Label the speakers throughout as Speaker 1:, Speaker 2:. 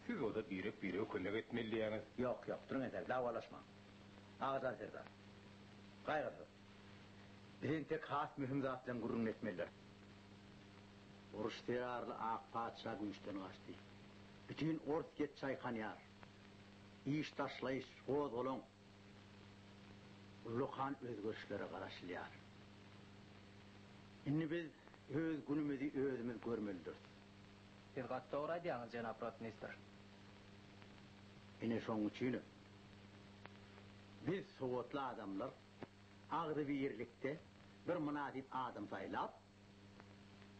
Speaker 1: Siz oda birek birege kömek etmelidiýäňiz. Ýok, ýok, duruň entäk, dawalaşmaň. Agajan serdar. Gaýgysyz. Biz entek has möhüm zat bilen gürrüňini etmelidiris. Uruş zerarly ak patyşa güýçden gaçdy. Bütin ors get çaýkanýar. Iş taşlaýyş, gozgalaň. Ullakan özgerişlere garaşylýar. Indi biz öz günümizi özümiz görmelidiris. Siz gaty dogry aýdýaňyz jenap rotmistr. Ine şonuň üçinem biz sowatly adamlar agzybirlikde bir mynasyp adam saýlap,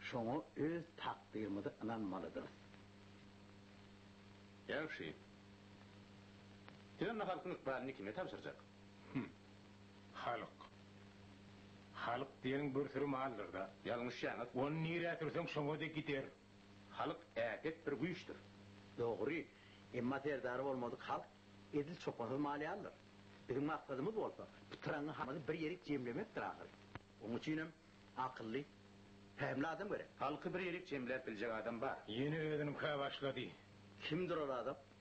Speaker 1: şoňa öz takdyrymyzy ynanmalydyrys. Ýagşy. Siz onda halkyň ykbalyny kime tabşyrjak? Hum. Halk. Halk diýeniň bir süri maldyr-da. Ýalňyşýaňyz. Ony nirä sürseň şoňa-da gider. Halk äpet bir güýçdür. Dogry. Emma serdary bolmadyk halk edil çopansyz mal ýalydyr. Biziň maksadymyz bolsa, pytraňňy halky bir ýerik jemlemekdir ahyry. Onuň üçinem akylly, pähimli adam gerek. Halky bir ýerik jemläp biljek adam bar. Ýene özüniňkä başlady. Kimdir ol adam?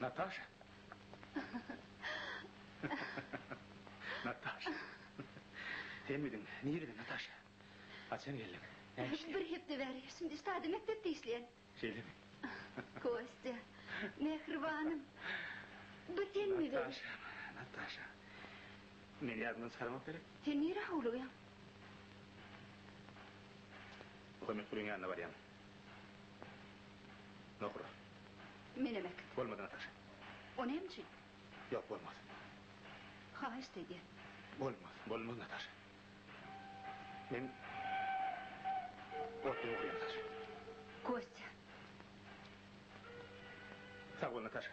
Speaker 1: Nataşa. Nataşa. Senmidiň? Nireden Nataşa? Haçan geldiň? Näme işleýäň? Bir hepde bäri. Şindi Stade mekdepde işleýän. Şeýlemi? Kostýa. Mähribanym. Bu senmi? Nataşa. Nataşa. Meni ýadymdan çykarmak gerek. Sen nirä howlugýaň? Muhammet Gulyň ýanyna barýan. Nohura. Menemek. Bolmaz, Nataşa. O näme üçin? Ýok, bolmaz. Haýyşt edýän. Bolmaz, bolmaz, Nataşa. Men otly nohurýam, Saşa. Kostýa. Sag bol, Nataşa.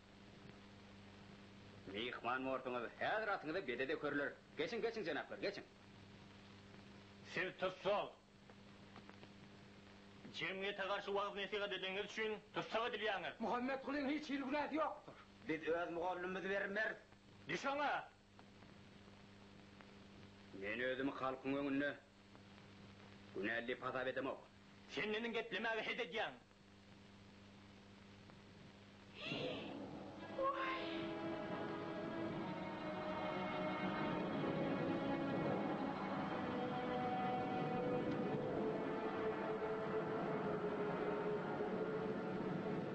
Speaker 1: Myhman borsuňyz, häzir atyňyza bede dökerler. Geçiň, geçiň, jenaplar, geçiň. Siz tussag. Jemgyýete garşy wagyz-nesihat edeniniz üçin tussag edilýäňiz. Muhammetgulyň hiç hili günäsi ýokdur. Biz öz mugallymymyzy berim-meris. Düş oňa! Men özümi halkyň öňünde günäli diýip hasap edemok. Sen meniň geplemäge het edýäň.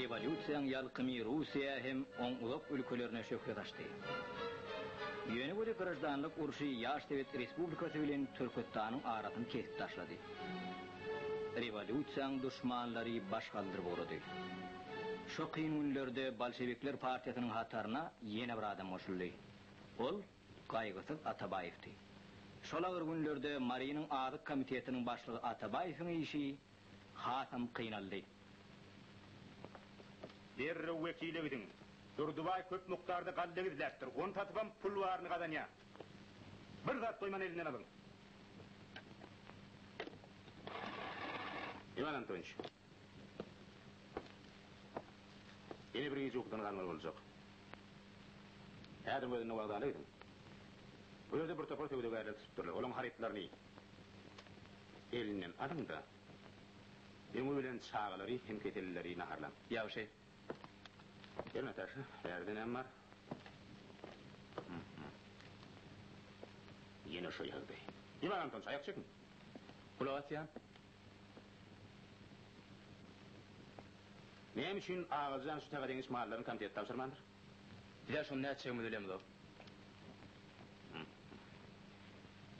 Speaker 1: Rewolýusiýaň ýalkymy Russiýa hem oň uzak ülkelerine şöhle saçdy. Ýöne welin graždanlyk urşy ýaş sowet respublikasy bilen Türküstanyň arasyny kesip taşlady. Rewolýusiýaň duşmanlary baş galdyryp ugrady. Şo kyn günlerde bolşewikler partiýasynyň hataryna ýene bir adam goşuldy. Ol Gaýgysyz Atabaýewdi. Şol agyr günlerde Marynyň Azyk komitetiniň başlygy Atabaýewiň işi hasam kynaldy. Derrew wekile gidiň. Durdybaý köp mukdarda galla gizläpdir. Ony satybam pul baryny gazanýar. Bir zat goýman elinden alyň. Iwan Antonyç. Ýene bir gije ukudan galmaly boljak. Häziriň özünde wokzala gidiň. Bu ýerde bir topar söwdagärler tutupdyrlar. Olaryň harytlaryny elinden alyň-da, öňi bilen çagalary hem keselleri naharlaň. Ýagşy. Gel, Nataşa, bärde näme bar? Hum-hum. Ýene şo ýagdaý. Ýylan Anton, çaýak çekiň. Gulak asýan. Näme üçin Agalyjan şu taýga deňiş mallaryny komitete tabşyrmandyr? Bizä şony nätjegimizi bilemizok.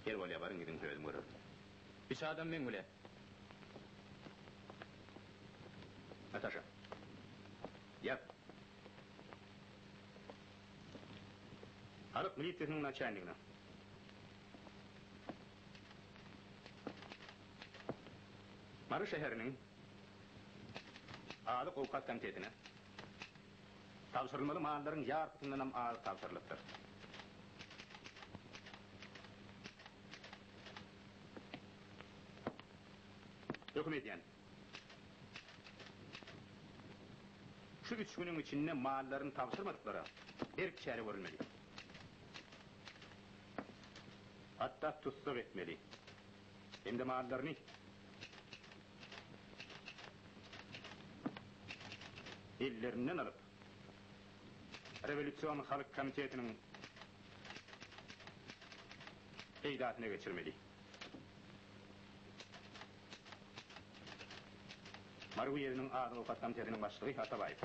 Speaker 1: Her bolýa baryň gidiň özüm görerin. Üç adam meň bilen. Nataşa. Ýat. Halyk milisiýasynyň naçalnigine. Mary şäheriniň Azyk-owkat komitetine tabşyrylmaly mallaryň ýarpysyndanam az tabşyrylypdyr. Höküm edýän, şu üç günüň içinde mallaryny tabşyrmadyklara berk çäre görülmeli. Hatda tussag etmeli. Hem-de mallaryny ellerinden alyp, Rewolýusion Halk Komitetiniň peýdasyna geçirmeli. Mary uýezdiniň Azyk-owkat komitetiniň başlygy Atabaýew.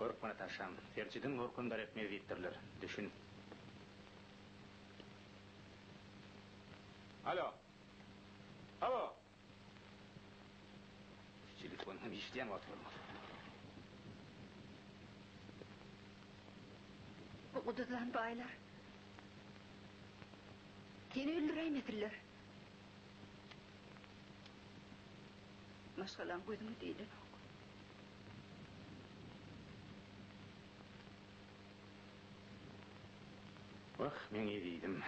Speaker 1: Görüp Natashaň. Serjidin görkem daretmez diýipdirler. Düşün. Alo! Hawa! Şu telefon hem işleýän wagty bolmasa. Bu guduzlan baýlar seni öldüräýmesinler. Maşgalaň gözüňe deýlenok. Wah, meň ezizim.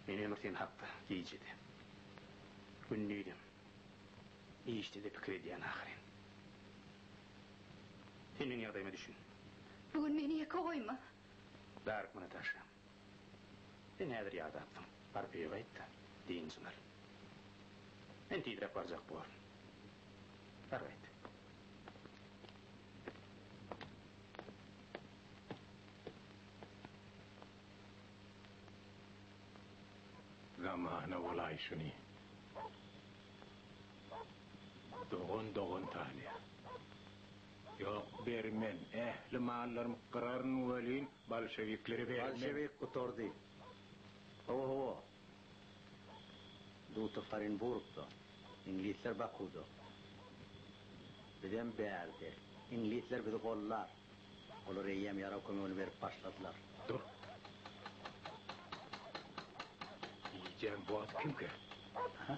Speaker 1: Men ömür sen hakda gije-de, gündiz-em, işde-de pikir edýän ahyryn. Sen meň ýagdaýyma düşün. Bu gün meni ýeke goýma. Darykma, Nataşam. Sen häzir ýadapsyň, baryp öýe gaýt-da, dynjyň al. Men tizräk barjak borun. Bar gaýt. Zamana bolaý şuny. Dogan dogan tanyýar. Ýok, bermen. Ähli mallarymy gyraryn welin, Bolşewikleri berip men. Bolşewik gutardy. Hawa, hawa. Dutow Orenburgda, iňlisler Bakuda. Bizem bärde. Iňlisler bizi gollar. Olar eýýäm ýarag kömegini berip başladylar. Dur. Iýjäň bordy kimkä? Aha.